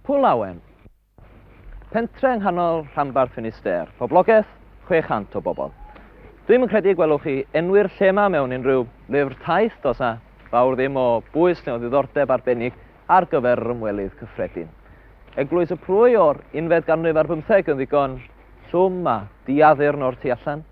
Pwllawen, pentre yng nghanol rhanbarth Finisterre, poblogaeth 600 o bobl. Dwi'm yn credu y gwelwch chi enwi'r lle yma mewn unrhyw lyfr taith, does na fawr ddim o bwys neu o ddiddordeb arbennig ar gyfer yr ymwelydd cyffredin. Eglwys y Prwy o'r unfed ganrif ar bymtheg yn ddigon llwm a diaddurn o'r tu allan.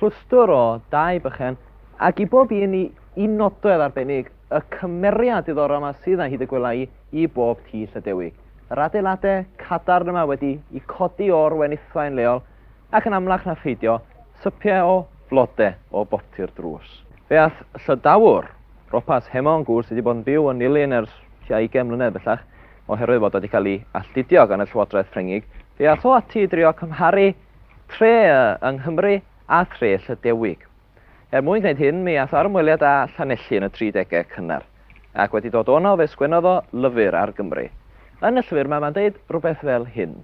Clwstwr o dai bychan, ac i bob un i un nodwedd arbennig. Y cymeriad diddorol yma sydd yna hyd y gwela i i bob tŷ Llydewig. Yr adeilade cadarn yma wedi i codi o'r wenithfaen leol ac yn amlach na pheidio, sypiau o flode o boptu'r drws. Fe ath Llydawr, Ropas Hemon Gŵr sydd wedi bod yn byw yn Nulyn ers tua 20 mlynedd bellach, oherwydd fod o wedi cael ei alltudio gan y Llywodraeth Ffrengig, fe ath o ati i drio cymharu tre yng Nghymru a thre Llydewig. Er mwyn gwneud hyn, mi aeth o ar ymweliad â Llanelli yn y tri degau cynnar, ac wedi dod o 'na fe sgwennodd o lyfr ar Gymru. Yn y llyfr 'ma mae'n deud rhywbeth fel hyn.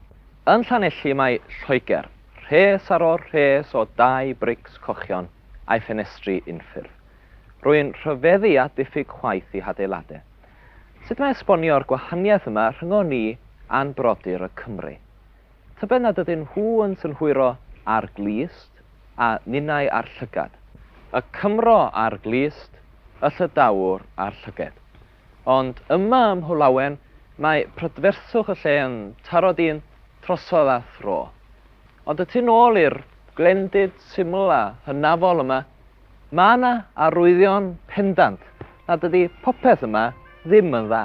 Yn Llanelli mae Lloegr, rhes ar ôl rhes o dai brics cochion a'i ffenestri unffurf. Rwy'n rhyfeddu at ddiffyg chwaeth i hadeiladau. Sut mae esbonio'r gwahaniaeth yma rhyngon ni a'n brodyr y Cymry? Tybed nad ydyn nhw yn synhwyro â'r glust, a ninnau â'r llygad. Y Cymro â'r glust, y Llydawr â'r llyged. Ond yma ym Mhwllawen mae prydferthwch y lle yn taro dyn trosodd a thro. Ond y tu nôl i'r glendid syml a hynafol yma, mae yna arwyddion pendant nad ydy popeth yma ddim yn dda.